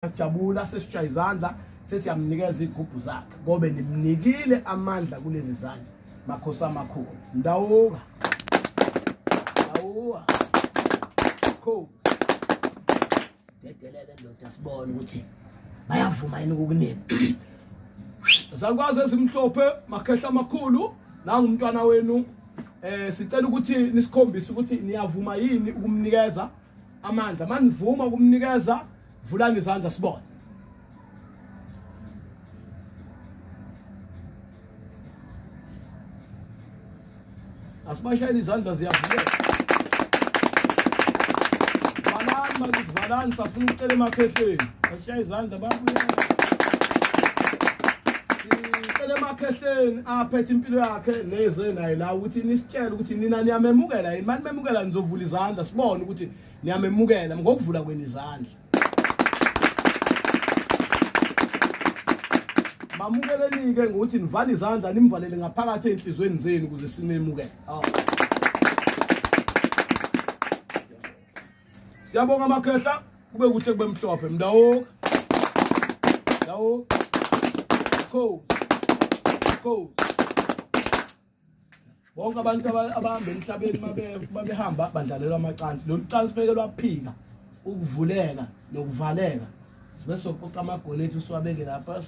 siyajabula sesishaya izandla sesiyamnikeza igubhu zakhe ngobe nimnikile amandla kulezi zandla makhosi amakhulu ndawuka ndawuka cool dedelele ndoda sibone ukuthi bayavuma yini ukukunika zakwazi ezimhlophe makhehla amakhulu nangumntwana wenu eh sicela ukuthi nisikhombise ukuthi niyavuma yini ukumnikeza amandla manivuma ukumnikeza vulani izandla sibone asibashayele izandla ziyavuleka valani bakithi valani safuna ukucela emakhehlweni asishaye izandla babuye sicela emakhehlweni aphethe impilo yakhe neze naye la ukuthi nisitshele ukuthi nina niyamemukela yini mani memukela nizovula izandla sibone ukuthi niyamemukela ngokuvula kwenu izandla mamukeleni-ke ngokuthi nivale izandla nimvalele ngaphakathi ey'nhliziyweni zenu ukuze simemukele oh. siyabonga amakhehla kube kuhle kube mhlophe mndawoka mndawoka cold cold bonke abantu abahamba emhlabeni babehamba badlalelwa amacansi lolu cansi beke lwaphika ukuvuleka nokuvaleka sibe soqoqa amagoli ethu siwabeke lapha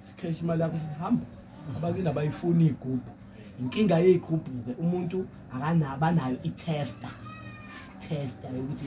sikheshi imali yakho sihamba abakini abayifuni iy'gubhu inkinga yey'gubhu-ke umuntu abanayo i-tester tester yokuthi